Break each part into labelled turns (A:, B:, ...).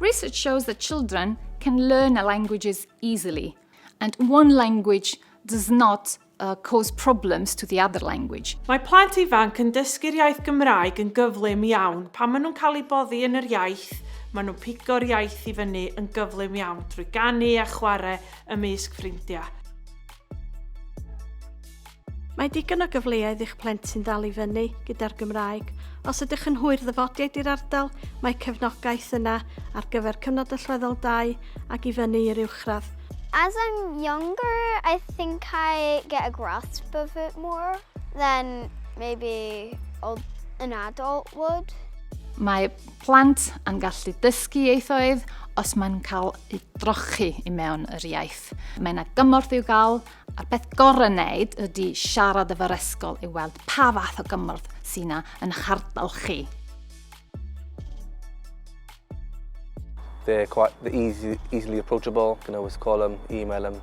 A: Research shows that children can learn languages easily, and one language does not uh, cause problems to the other language. Mae plant ifanc yn dysgu'r iaith Gymraeg yn gyflym iawn pan maen nhw'n cael eu boddi yn yr iaith, maen nhw'n pigo'r iaith i fyny yn gyflym iawn drwy ganu a chwarae ymysg ffrindiau. Mae digon o gyfleoedd i'ch plentyn ddal i fyny gyda'r Gymraeg. Os ydych yn hwyr ddyfodiaid i'r ardal, mae cefnogaeth yna ar gyfer cyfnod allweddol 2 ac i fyny i'r uwchradd. As I'm younger, I think I get a grasp of it more than maybe an adult would. Mae plant yn gallu dysgu ieithoedd os mae'n cael ei drochi i mewn yr iaith. Mae yna gymorth i'w gael A'r peth gorau wneud ydy siarad efo'r ysgol i weld pa fath o gymorth sy'n na yn eich ardal chi. They're quite they're easy, easily approachable. You can always call them, email them.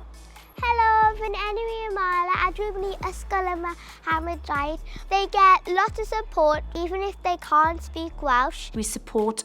A: Hello, fy enw i Amala a dwi'n mynd i ysgol yma Hamadrydd. They get lots of support even if they can't speak Welsh. We support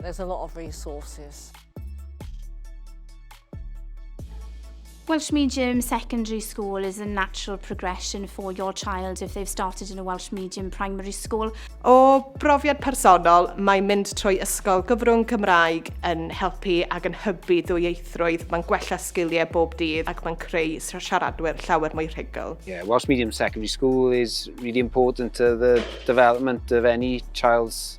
A: There's a lot of resources. Welsh Medium Secondary School is a natural progression for your child if they've started in a Welsh Medium Primary School. O brofiad personol, mae mynd trwy ysgol gyfrwng Cymraeg yn helpu ac yn hybu ddwyieithrwydd, mae'n gwella sgiliau bob dydd ac mae'n creu siaradwyr llawer mwy rhugl. Yeah, Welsh Medium Secondary School is really important to the development of any child's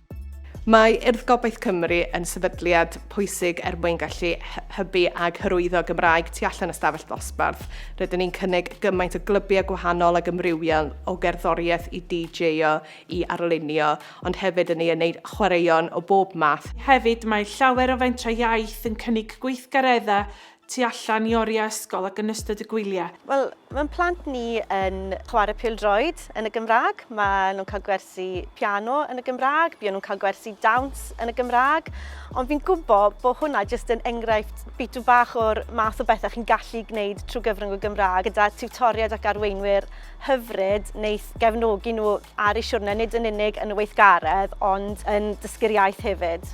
A: Mae Urdd Gobaith Cymru yn sefydliad pwysig er mwyn gallu hybu ag hyrwyddo Gymraeg tu allan y stafell ddosbarth. Rydyn ni'n cynnig gymaint o glybiau gwahanol ag ymrywiol o gerddoriaeth i DJ-o i arlunio, ond hefyd yn ei wneud chwaraeon o bob math. Hefyd, mae llawer o fentrau iaith yn cynnig gweithgareddau tu allan i oriau ysgol ac yn ystod y gwyliau. Wel, mae'n plant ni yn chwarae pildroed yn y Gymraeg, maen nhw'n cael gwersi piano yn y Gymraeg, buon nhw'n cael gwersi dawns yn y Gymraeg, ond fi'n gwybod bod hwnna jyst yn enghraifft bitw bach o'r math o bethau chi'n gallu gwneud trwy gyfrwng y Gymraeg gyda tiwtoriaid ac arweinwyr hyfryd wneud gefnogi nhw ar eu siwrne, nid yn unig yn y weithgaredd, ond yn dysgu'r iaith hefyd.